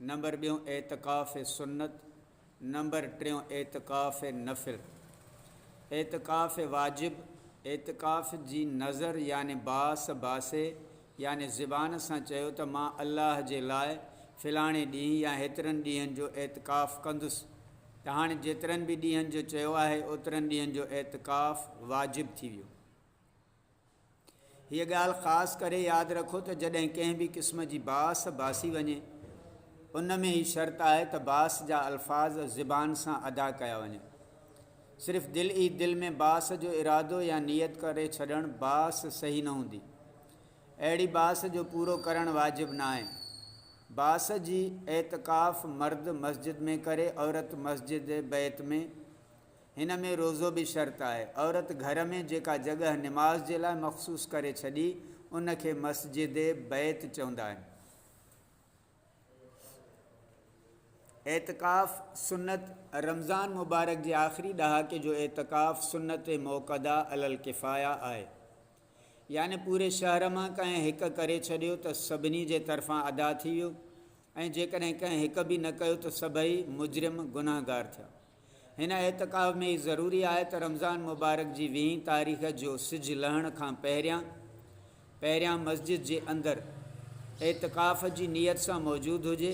Number ٻيون اعتڪاف سنت، نمبر ٽيون اعتڪاف نفل. اعتڪاف واجب، اعتڪاف جي نذر يعني باس باسي يعني زبان سان چيو ته مان الله جي لاء فلاڻي ڏينهن يا هيترن ڏينهن جو اعتڪاف ڪندس ته هاڻي جيترن به ڏينهن جو چيو آهي اوترن ڏينهن جو اعتڪاف واجب ٿي ويو. هيء ڳالهه خاص ڪري ياد رکو ته جڏهن ڪنهن به قسم جي باس باسي وڃي، ان ۾ هي شرط آهي ته باس جا الفاظ زبان سان ادا ڪيا وڃن. صرف دل ئي دل ۾ باس جو ارادو يا نيت ڪري ڇڏڻ باس صحيح نه هوندي. اهڙي باس جو پورو ڪرڻ واجب ناهي. باس جي اعتڪاف مرد مسجد ۾ ڪري، عورت مسجد بيت ۾ هن ۾ روزو به شرط آهي. عورت گهر ۾ جيڪا جڳهه نماز جي لاء مخصوص ڪري ڇڏي، ان کي مسجد بيت چوندا آهن. اعتڪاف سنت، رمضان مبارڪ جي آخري ڏهاڪي جو اعتڪاف سنت موقده علي الڪفايه آهي. يعني پوري شهر مان ڪنهن هڪ ڪري ڇڏيو ته سڀني جي طرفان ادا ٿي ويو ۽ جيڪڏهن ڪنهن هڪ به نه ڪيو ته سڀئي مجرم، گنهگار، ٿيا. هن اعتڪاف ۾ هي ضروري آهي ته رمضان مبارڪ جي ويهين تاريخ جو سج لهڻ کان پهريان پهريان مسجد جي اندر اعتڪاف جي نيت سان موجود هجي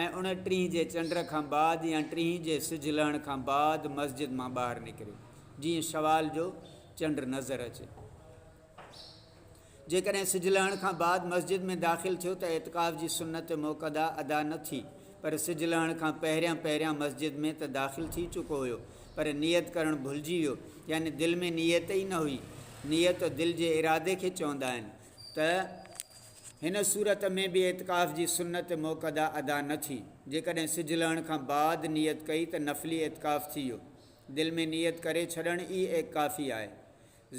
۽ ان ٽيهين جي چنڊ کان بعد يا ٽيهين جي سج لهڻ کان بعد مسجد مان ٻاهر نڪري جيئن شوال جو چنڊ نظر اچي. جيڪڏهن سج لهڻ کان بعد مسجد ۾ داخل ٿيو ته اعتڪاف جي سنت موقدا ادا نه ٿي پر سج لهڻ کان پهريان پهريان مسجد ۾ ته داخل ٿي چڪو هيو پر نيت ڪرڻ ڀلجي ويو يعني دل ۾ نيت ئي نه هئي نيت دل جي ارادي کي چوندا آهن ته هن صورت ۾ به اعتڪاف جي سنت موقدا ادا نه ٿي جيڪڏهن سج لهڻ کان بعد نيت ڪئي ته نفلي اعتڪاف ٿي ويو دل ۾ نيت ڪري ڇڏڻ ئي اعڪافي آهي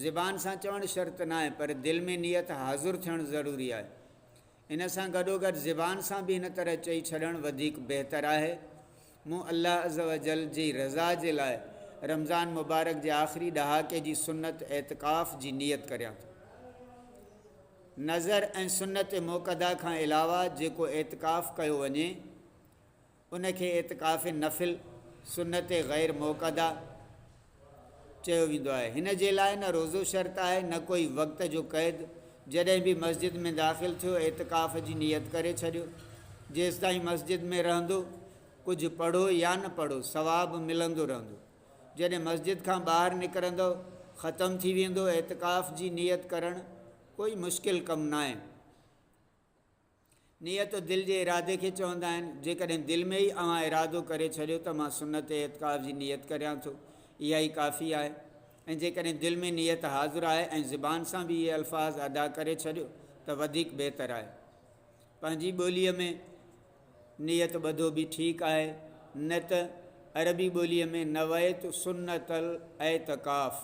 زبان سان چوڻ شرط ناهي پر دل ۾ نيت حاضر ٿيڻ ضروري آهي. ان سان گڏوگڏ زبان سان به هن طرح چئي ڇڏڻ وڌيڪ بهتر آهي، مون الله عزّوجلّ جي رضا جي لاء رمضان مبارڪ جي آخري ڏهاڪي جي سنّت اعتڪاف جي نيت ڪريان ٿو. نذر ۽ سنّت موقّدا کان علاوه جيڪو اعتڪاف ڪيو وڃي، ان کي اعتڪاف نفل، سنت غير موقده، چيو ويندو آهي. هن جي لاء نه روزو شرط آهي نه ڪوئي وقت جو قيد. جڏهن به مسجد ۾ داخل ٿيو اعتڪاف جي نيت ڪري ڇڏيو. جيستائين مسجد ۾ رهندو ڪجهه پڙهو يا نه پڙهو ثواب ملندو رهندو. جڏهن مسجد کان ٻاهر نڪرندؤ ختم ٿي ويندو. اعتڪاف جي نيت ڪرڻ ڪوئي مشڪل ڪم ناهي. نيت دل جي ارادي کي چوندا آهن. جيڪڏهن دل ۾ ئي اوهان ارادو ڪري ڇڏيو ته مان سنت اعتڪاف جي نيت ڪريان ٿو، اها ئي ڪافي آهي ۽ جيڪڏهن دل ۾ نيت حاضر آهي ۽ زبان سان به اهي الفاظ ادا ڪري ڇڏيو ته وڌيڪ بهتر آهي. پنهنجي ٻوليء ۾ نيت ٻڌو به ٺيڪ آهي نه ته عربي ٻوليء ۾ نويت سنت الاعتڪاف.